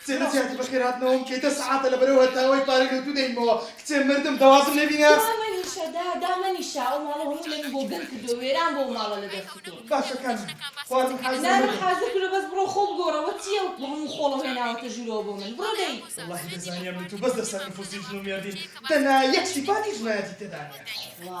کچێ لە جیاتی بەخێر هاتنەوەم کەی دە سەعاتە لە بەرەو هەتاوەی پارەی لە دوو دەینمەوە کچێ مردم دەوازم لێ بینە. دامەنیشە دا دامەنیشە ئەو ماڵە هەموو لەوی بۆ گەن کردووە وێران بووە ئەو ماڵە لە دەستی تۆ. باشە کانم خواردن حازرە مردم. نانم حازر کردووە بەس بڕۆ خۆو بگۆڕەوە چیە ئەو هەموو خۆڵەو هێناوەتە ژوورەوە بۆ من بڕۆ دەی. وەڵاهی دەزانیام نەتوو بەس لەسەر نفوسی ژن و مێردین دەنا یەک سیفاتی ژنایەتی تێدا نیە. تخوا.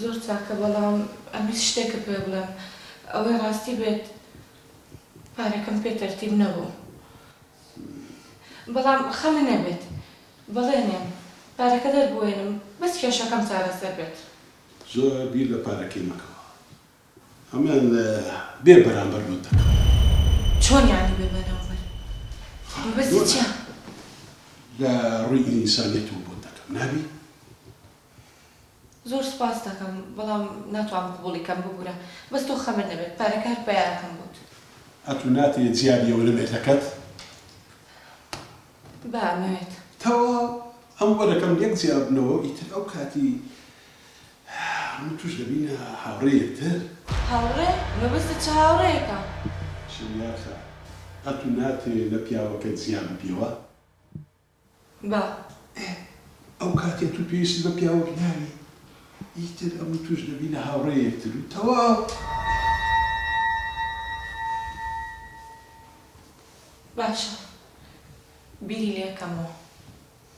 زۆر چاکە بەڵام ئەمویست شتێکت پێ بڵێم ئەوەی ڕاستی بێت پارەکەم پێ تەرتیب نەبوو بەڵام خەمە نەبێت بەڵێنێم پارەکە دەربوێنم بەس کێشەکەم چارەسەر بێت. زۆر بیر لە پارەکەی مەکەوە ئەمن بێ بەرامبەر بۆت دەکەم. چۆن یانی بێ بەرامبەر مەبەستی چیە؟ لە ڕوی ئینسانیەتەوە بۆت دەکەم نابی؟ زۆر سوپاست دەکەم بەڵام ناتوانم قبوڵی کەم ببورە بەس تۆ خەمت نەبێت پارەکە هەر پەیاکەم بۆت. ئەتو ناتەوێت جیا بیەوە لە مێردەکەت؟ با ئەمەوێت. تەواو ئەم وەرەکەم لێک جیا بنەوە ئیتر ئەو کاتی من و توش دەبینە هاوڕێی یەکتر. هاوڕێ؟ مەبەستت چ هاوڕێیەکە؟ شەنیارخان ئەتو ناتەوێت لە پیاوەکەت جیا ببیەوە؟ بە. ئێ ئەو کاتێ تو پێویستت بە پیاوەک ناوی ئیتر ئەم و توش دەبینە هاوڕێ یەکتر و تەواو. باشە بیری لێکەمەوە.